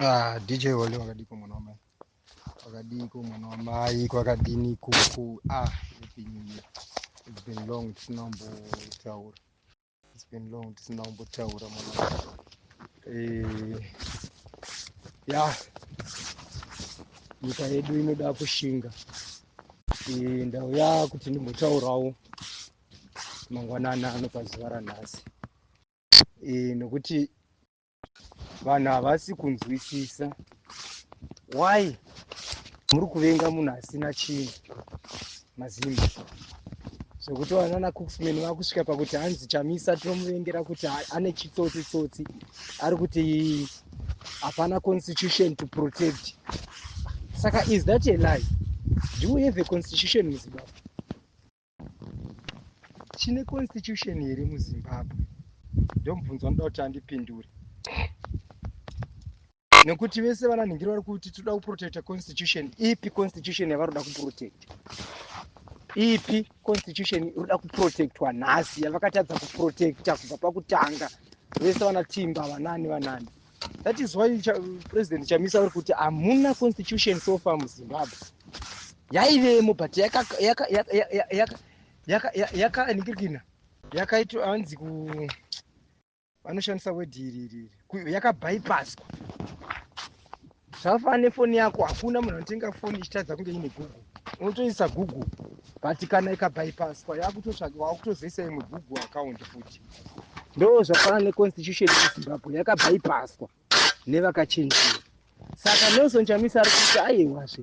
Ah, DJ wale wakadiko mwana wamai wakadiko mwana wamai kwakadini kuku ah, it's been, it's been long tisina kumbotaura it's been long tisina kumbotaura mwana eh, ya nyika yedu inoda kushinga eh, ndauya kuti ndimbotaurawo mangwanani ano pazuva ranhasi e, nokuti vanhu havasi kunzwisisa why muri kuvenga munhu asina chinhu mazimba zvekuti vanana cooksman vakusvika pakuti hanzi chamisa tinomuvengera kuti ane chitsotsi tsotsi ari kuti hapana constitution to protect saka is that a lie do we have a constitution muzimbabwe chine constitution here muzimbabwe ndomubvunzo anoda kuti andipindure nekuti vese vana nhingiri vari kuti toda kuprotecta constitution ipi constitution yavaroda kuprotecta ipi constitution inoda kuprotectwa nhasi yavakatadza kuprotecta kubva pakutanga vese vana timba vanani vanani That is why Ch President Chamisa vari kuti hamuna constitution so far muZimbabwe. Yaivemo but yakanikirikina yakaitwa hanzi ku vanoshandisa word iri iri yakabypasswa Zvafa nefoni yako hakuna munhu anotenga foni ichitadza kunge ine google unotoisa google but kana ikabypasswa yakutotsvaga wakutozoisa imwe google account futi ndo zvafanana neconstitution yezimbabwe yakabypasswa nevakachenjera saka nelson chamisa ari kuti aiwazve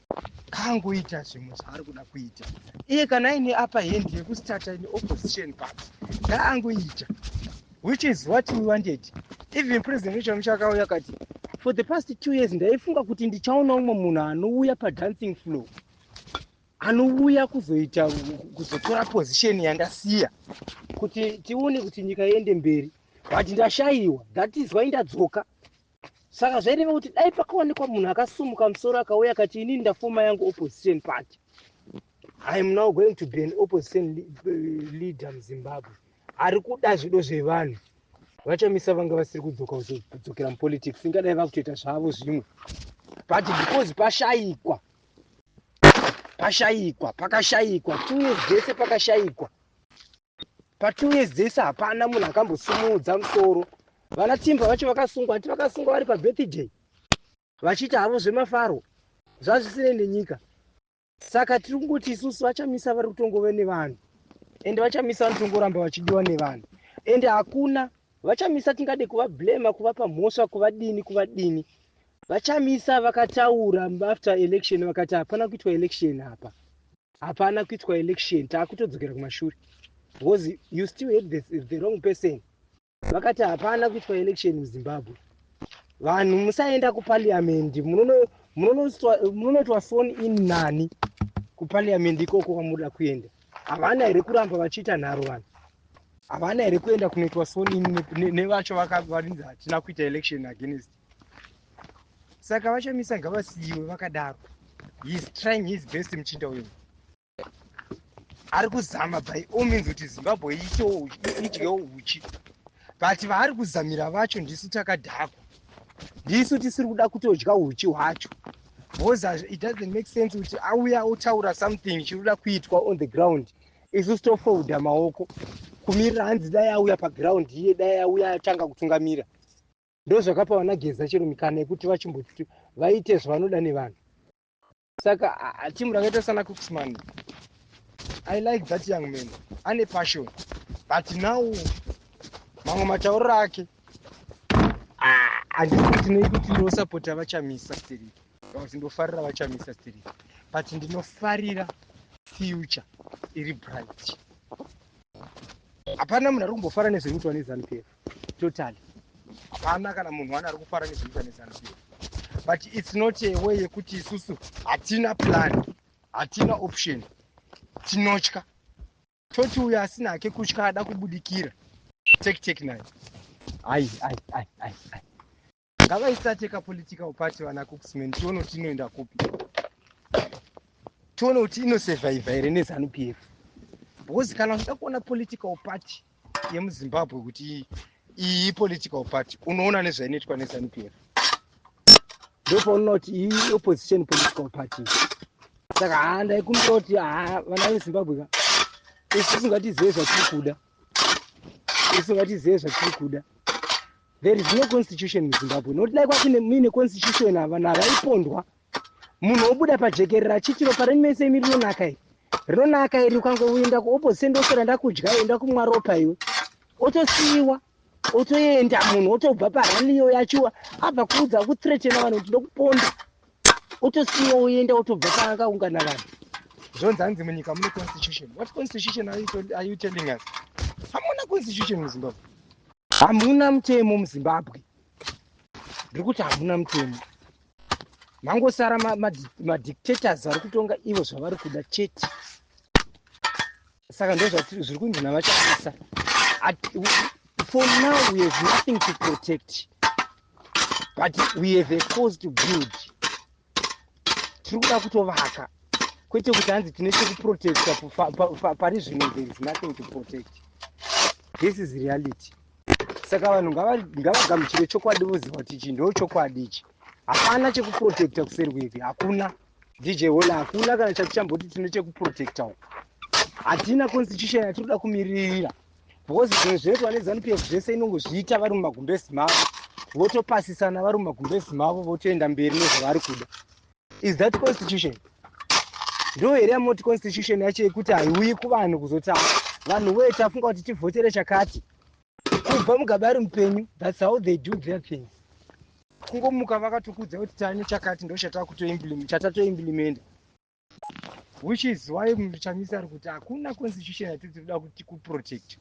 kangoita zvimwe zvaari kuda kuita iye kana aine apa hendi yekustarta in opposition party ngaangoita which is what we wanted even president wechamusha akauya akati for the past two years ndaifunga kuti ndichaona umwe munhu anouya padancing flow anouya kuzoita kuzotora position yandasiya kuti tione kuti nyika iende mberi but ndashayiwa that is why ndadzoka saka zvaireva kuti dai pakawanikwa munhu akasumuka musoro akauya akati inini ndafoma yangu opposition party iam now going to be an opposition eh, leader muzimbabwe ari kuda zvido zvevanhu vachamisa vanga vasiri kudzoka kudzokera mupolitics ingadai vakutoita zvavo zvimwe but because pashayikwa pashayikwa pakashayikwa two years dzese pakashayikwa Patunyezi dzese hapana munhu akambosimudza musoro. Vana Timba vacho vakasungwa, hati vakasungwa vari pabirthday vachiti havo zvemafaro zvazvisinei nenyika. Saka tiri kungoti isusu vachamisa vari kutongove nevanhu ende vachamisa vanotongoramba vachidiwa nevanhu ende hakuna vachamisa tingade kuvablema kuvapa mhosva kuvadini kuvadini VaChamisa vakataura after election vakati hapana kuitwa election apa. Hapana kuitwa election taakutodzokera kumashure. Because you still had the, the wrong person. Vakati hapana kuitwa election muZimbabwe. Vanhu musaenda kuparliament munono munonotwa phone in nani kuparliament ikoko kwamunoda kuenda. Havana here kuramba vachiita nharo vanhu? Havana here kuenda kunoitwa phone in nevacho vakarinzi hatina kuita election against saka vachamisa ngavasiyiwe vakadaro heis trying his best muchinda uyu ari kuzama by all means kuti zimbabwe itewo idyewo uchi but vaari kuzamira vacho ndisu takadhakwa ndisu tisiri kuda kutodya uchi hwacho because it doesn't make sense kuti auya otaura something chiri kuda kuitwa on the ground isu sitofolda maoko kumirira hanzi dai auya paground iye dai auya atanga kutungamira ndozvakapa vana geza chero mikana yekuti vachimbotuti vaite zvavanoda nevanhu saka timu rakaita sana cooksman i like that young man ane passion but now mamwe matauriro ake handisitinei kuti ndosapota vachamisa sterek but ndofarira vachamisa sterek but ndinofarira future iri bright hapana munhu ari kumbofara nezvekuitwa nezanupf totally hapana kana munhu wani ari kufara nezvinoita nezanu pf but its not a way yekuti isusu hatina plan hatina option tinotya toti uyo asina hake kutya ada kubudikira tektek nayo ai ai ai ai ai ngavaistate ka political party vana cooksman tione kuti inoenda kupi tione kuti inosurviva here nezanu p f because kana uchida kuona political party yemuzimbabwe kuti iyi political party unoona nezvainoitwa nezanu p f ndopaunoona kuti iyi opposition political party saka haa ndaikumbira kuti haa vana vezimbabwe ka isi tisingatizive zvatiri kuda ese vatizive zvatiri kuda there is no constitution muzimbabwe nokuti dai kwakune muine constitution ava na vaipondwa munhu wobuda pajekerera achiti ropa renyu mese imi rinonaka iri rinonaka iri ukangoenda kuopposition ndosara ndakudya enda kumwa ropa iwe otosiyiwa otoenda munhu otobva parani iyoyo achiwa abva kuudza kuthretena vanhu kuti ndokuponda otosiwa oenda otobva paakaungana vanhu zvonzi hanzi munyika mune constitution what constitution are you telling us hamuna constitution muzimbabwe hamuna mutemo muzimbabwe ndiri kuti hamuna mutemo mangosara madictators vari kutonga ivo zvavari kuda chete saka ndozvatiri zviri kunzi navachamisa for now we have nothing to protect but we have a cause to build tiri kuda kutovaka kwete kuti hanzi tine chekuprotecta pari zvino there is nothing to protect this is reality saka vanhu ngavagamuchire chokwadi voziva kuti ichi ndo chokwadi ichi hapana chekuprotecta kuseri kwevi hakuna DJ Hola hakuna kana chatichamboti tine chekuprotecta uko. Hatina constitution yatinoda kumiririra. Because zvimwe zvinoitwa neZanu PF zvese inongozviita vari mumagumbezi mavo. Votopasisana vari mumagumbezi mavo votoenda mberi nezvavari kuda. Is that constitution? Ndo here yamoti constitution yacho yekuti haiuyi kuvanhu kuzotanga. Vanhu wee tafunga kuti tivhotere chakati. kubva mugaba ari mupenyu thats how they do their things kungomuka vakatokudza kuti tane chakati ndo chatatoimplimenta which is why muchamisa ari kuti hakuna constitution yatiri tikuda kuti kuprotect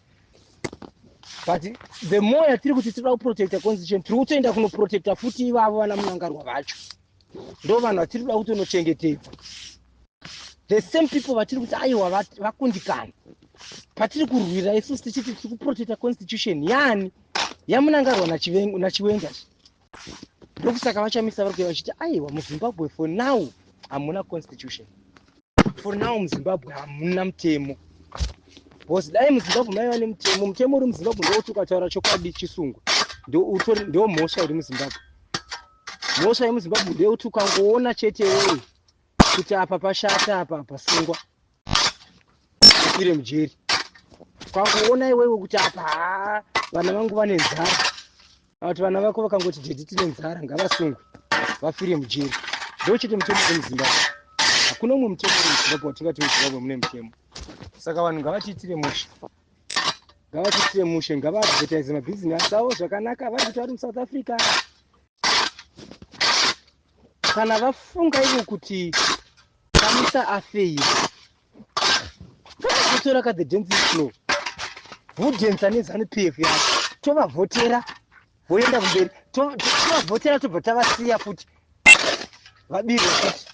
but the more yatiri kuti tikuda kuprotecta constitution tiri kutoenda kunoprotecta futi ivavo vana munangarwa vacho ndo vanhu vatiri kuda kuti unochengetedza the same people vatiri kuti aiwa vakundikana patiri kurwira isusu tichiti tiri kuprotecta constitution yani yamunangarwa nachiwenga ndokusaka vachamisa vari kuya vachiti aiwa muzimbabwe for now hamuna constitution for now muzimbabwe hamuna mutemo bcause dai muzimbabwe maiva nemutemo mutemo uri muzimbabwe ndouti ukataura chokwadi chisungwa ndomhosva iri muzimbabwe mhosva yemuzimbabwe ndeyekuti ukangoona chete wewe kuti apa pashata apa pasungwa ufire mujeri ukangoona iwewe kuti apa haa vana vangu vane nzara kuti vana vako vakangoti dedi tine nzara ngavasungwe vafire mujeri ndo chete mutemo wemuzimbabwe hakuna umwe mutemo wemuzimbabwe watingati muzimbabwe mune mutemo saka vanhu ngavatiitire mhosva ngavatiitire mushe ngavaadvertise mabhizinesi avo zvakanaka vari kuti vari musouth africa kana vafunga ivo kuti kamisa afeyi vatotora ka the dance flow vodhensa nezanu p f yavo tovavhotera voenda kumberi tovavhotera tobva tavasiya futi vabirwa futi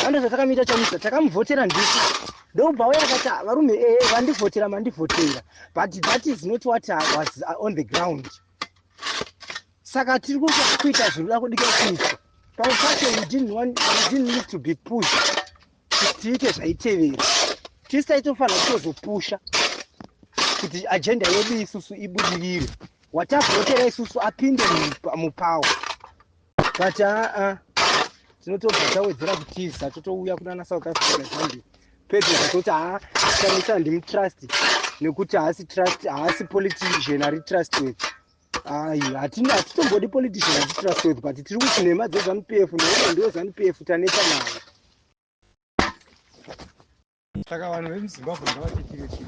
Hando dzatakamuita chamisa takamuvhotera ndisu ndokubva uya akati ah, varume ee eh, vandivhotera mandivhotera but that is not what I was uh, on the ground saka tiri kuita zvinoda kudika kuitwa pamwe pacho we didn't want we didn't need to be pushed kuti tiite zvaitevera tisi taitofanira kutozopusha kuti ajenda yedu isusu ibudirire watavhotera isusu apinde mupawo but aa tinotobva tawedzera kutiza totouya kunana south africa zambia pedyo zvatoti haa shamisa handimutrust nekuti haasi trust haasi politician ari trust weth ai hatitombodi politician ari trust weth but tiri kuti nhema dzezanupf nekuti ndiwo zanupf taneta nayo saka vanhu vemuzimbabwe ngavatetirechii